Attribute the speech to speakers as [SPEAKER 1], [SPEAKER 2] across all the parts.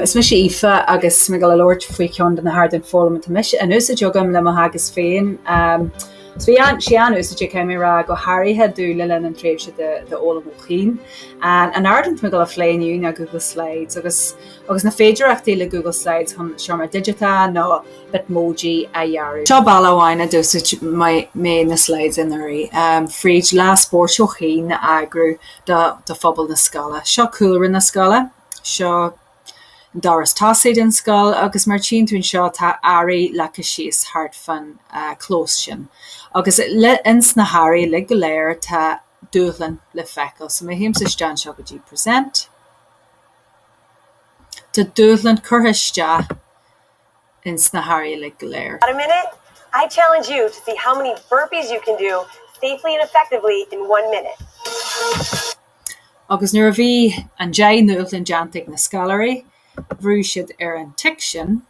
[SPEAKER 1] Is mise Aoife agus tá mé ag dul a labhairt faoi cheann de na hardáin foghlama atá in úsáid agam le mo theagasc féin. So tá sé an-úsáideach caithfidh mé a rá go háirithe do le linn an tréimhse de fhoghlaim ó chian. An t-ardán atá mé ag dul a phlé inniu ná Google Slides agus na féidearthachtaí le Google Slides chun seomra digiteach nó Bitmoji a dhearadh. Seo bealach amháin a d'úsáid mé na slides anuraidh, fríd Lá Spóirt ó chian a eagrú do phobal na scoile. Seo cúlra na scoile. Seo an doras tosaigh den scoil agus mar a tchíonn tú anseo tá earraí leagtha síos thart fán chlós sin agus ins na hearraí uilig go léir tá dúshlán le feiceáil. So má théim isteach anseo go dtí present, tá dúshlán curtha isteach. in sna hairí uilig go léir. Got a
[SPEAKER 2] minute? I challenge you to see how many burpees you can do safely and effectively in one minute.
[SPEAKER 1] Agus nuair a bhí an deich ndúshlán deánta ag na scoláirí bhrúigh siad ar an tic sin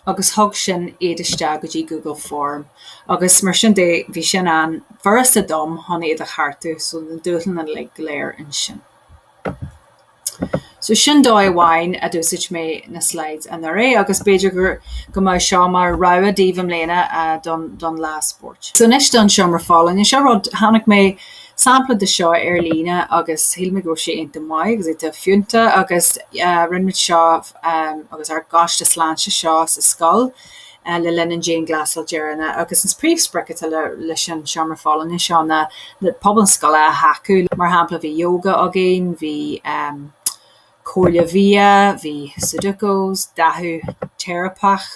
[SPEAKER 1] agus thug sin iad isteach go dtí Google Form agus mar sin de bhí sin an-fhurasta dom chun iad a cheartú so na dúshláin uilig go léir ansin. So sin dóigh amháin a d'úsáid mé na slides anuraidh agus b'fhéidir gur, go mbeadh seo mar rogha daoibh i mbliana don, don Lá Spóirt. So anois don Seomra Folláine. Seo rud, chonaic mé sampla de seo ar líne agus shíl mé go raibh sé iontach maith agus iontach fiúntach agus rinne muid seo agus ár gcoiste sláinte seo sa scoil, le linn an dianghlasáil deireanach agus an príomhsprioc atá leis an seomra folláine seo ná pobal na scoile a thacú. Mar shampla, bhí Yoga againn, bhí Comhairle Bhia, bhí Sudokus, dathú teiripeach,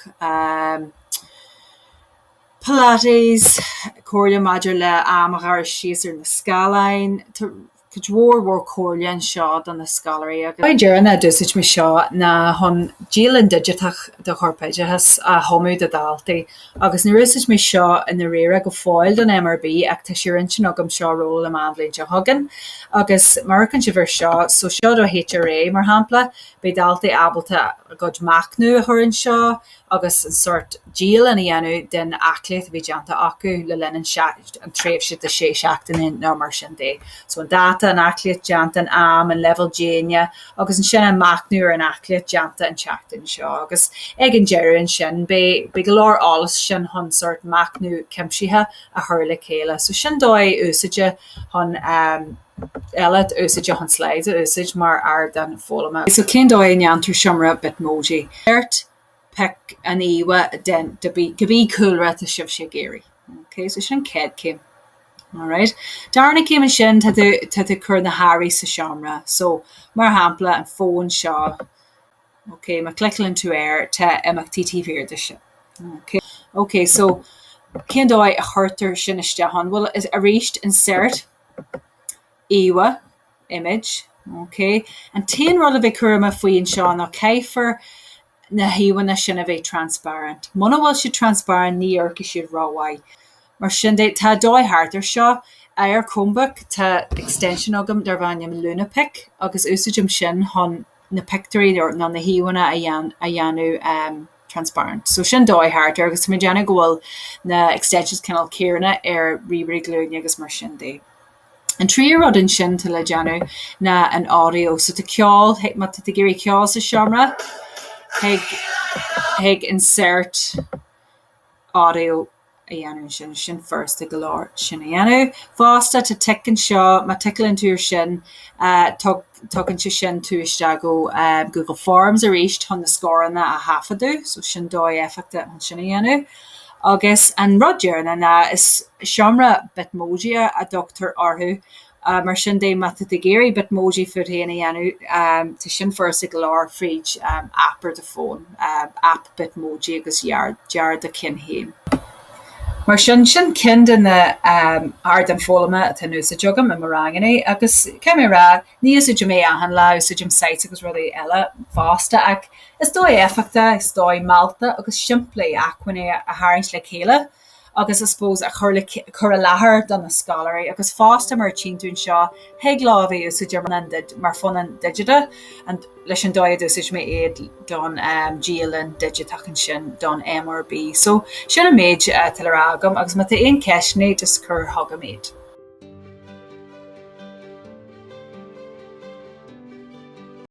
[SPEAKER 1] Pilates, comhairle maidir le am a ghearradh síos ar na scáileáin. Cuid mhór mhór comhairle anseo do na scoláirí agus an dóigh dheireanach a d'úsáid mé seo ná chun dialann digiteach do Chorpoideachas a chumadh do dhaltaí agus níor úsáid mé seo i ndáiríre go fóill don MRB ach tá sé ar intinn agam seo a rolladh amach an bhliain seo chugainn agus má amharcann sibh ar seo so seo do HRA mar shampla beidh daltaí ábalta a gcuid machnaimh a chur anseo agus ansin sórt dialann a dhéanamh den aclaíocht a bhí déanta acu le linn an tréimhse de sé seachtaine nó mar sin de. So an dáta, an aclaíocht déanta, an am, an leibhéal déine agus ansin an machnamh ar an aclaíocht déanta an tseachtain seo agus ag an deireadh ansin beidh beidh go leor eolais ansin chun sórt machnamh cuimsitheach a chur le chéile. So sin dóigh úsáideach chun a eile d'úsáid é chun slides a úsáid mar ardán foghlama. So cén dóigh a ndéantar seomra Bitmoji? Pioc an íomhá den to be cúlra atá sibhse ag iarraidh. Ok so sin an chéad céim. Alright. Darna céim ansin tá tú tá tú ag cur na hearraí sa seomra. So mar shampla an fón seo ok má clicleann tú air tá imeachtaí taobh thiar de sin. Ok ok so cén dóigh a chuirtear sin isteach ann? Bhuel is arís insert. Íomhá, Image, OK. An t-aon rud a bheith cúramach faoi anseo ná caithfear na híomhánna sin a bheith transparent. Muna bhfuil siad transparent ní oirfidh siad rómhaith. Mar sin de, tá dóigh thart ar seo. Ar Chromebook tá extension agam darb ainm Lunapic agus úsáidim sin chun. na pictiúirí nó na híomhánna a dhéanamh transparent. So sin dóigh thart air agus tá mé ag déanamh go bhfuil na extensions cineál céanna ar ríomhairí glúine agus mar sin de. An tríú rud ansin tá le déanamh ná an audio. So tá ceol, má tá tú ag iarraidh ceol sa seomra, thig insert, audio a dhéanamh ansin, sin furasta go leor sin a dhéanamh fosta, tá tic anseo, má ticleann tú ar sin, tugann sé sin tú isteach go Google Forms arís chun na scóranna a thaifeadadh, so sin dóigh éifeachtach chun sin a dhéanamh. Agus an rud deireanach ná, is seomra Bitmoji a dtugtar orthu, Mar sin de, má tá tú ag iarraidh Bitmoji fút féin a dhéanamh, tá sin furasta go leor fríd aip ar do fón, aip Bitmoji agus dear do cheann féin. Mar sin, sin ceann de na hardáin foghlama atá in úsáid agam i mo ranganna agus caithfidh mé a rá, ní úsáidim é achan lá, úsáidim sites agus rudaí eile fosta ach is dóigh éifeachtach, is dóigh mealltach agus simplí acmhainní a tharraingt le chéile. agus I suppose a chur i láthair do na scoláirí agus fosta mar a tíonn tú anseo thig leo a bheith úsáidte mar phunann digiteach leis an dóigh a d'úsáid mé iad don dialann digiteach ansin don MRB. So sin an méid atá le rá agam agus má tá aon ceisteanna just cur chugam iad.